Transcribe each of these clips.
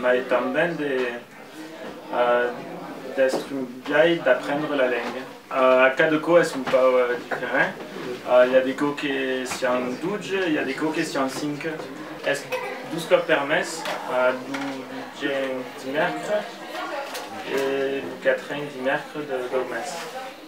mai tanben de destrunhai d'aprendre la lenga. Cada cò es un pauc diferent, i a de cò que sián doge, i a de cò que sián cinque. Es dus còps per mes, lo diènh dimèrcre e lo quatrènh dimèrcre dau mes.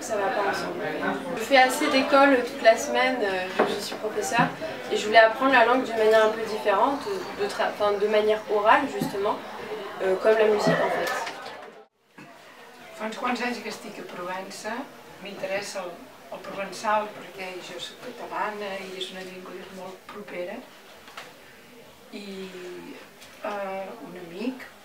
Ça va pas ensemble. Je fais assez d'école toute la semaine, je suis professeur et je voulais apprendre la langue d'une manière un peu différente, de manière orale justement, comme la musique en fait. Fa uns quants anys que estic a Provença, m'interessa el provençal perquè jo soc catalana i és una llengua que és molt propera i un amic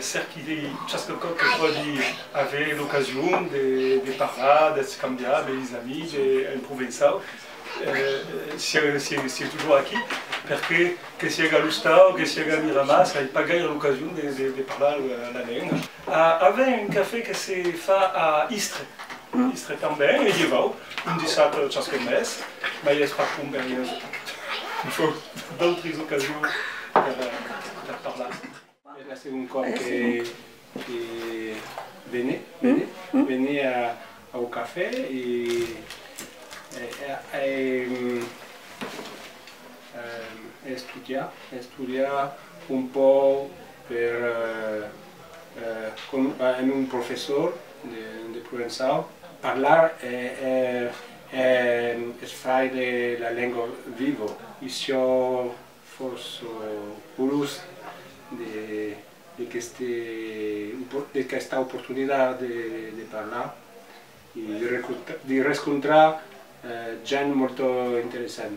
Cèrqui de chasquecòp que pòdi aver l'ocasion de parlar, d'escambiar de lhis amics en provençau, sieu totjorr aquí, perque que sieg a l'Ostau, que sieg a Miramar, s'ai pas gaire l'ocasion de parlar la lenga. Avèm un cafè que se fa a Istre, Istre tanben, e lhevau un dissat chasque mes, mai es pas com per ieu, fòu d'autris ocasions per parlar. Es la segon còp que vene, vene, vene au cafè e a estudiar, a estudiar un pauc per amb un professor de provençau, parlar es fai la lenga viva, issiò Fòrça orós d'aquesta oportunitat de parlar e de rescontrar gent molt interessant.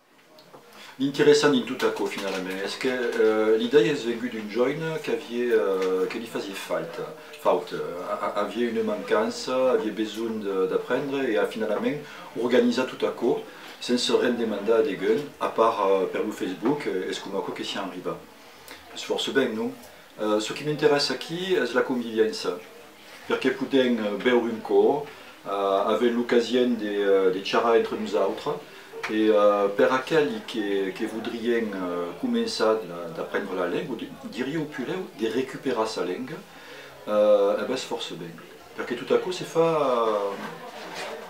L'interessant dins tot aquò finalament es que l'idèia es vengut d'un joine que li fasié fauta, avié una mancança, avié besonh d'aprendre e a finalament organizat tot aquò sens se rendre mandar a degun, a part per lo Facebook, es coma aquò que sián arribat. Es fòrça ben, non? Çò qui m'interessa aquí es la conviviença. Per que podèm bèure un còp, avèm l'ocasien de charrar entre nosautres e per aqueli que vodrien començar d'aprendre la lenga, diria au pulèu de recuperar sa lenga, es fòrça ben, per que tot aquò se fa.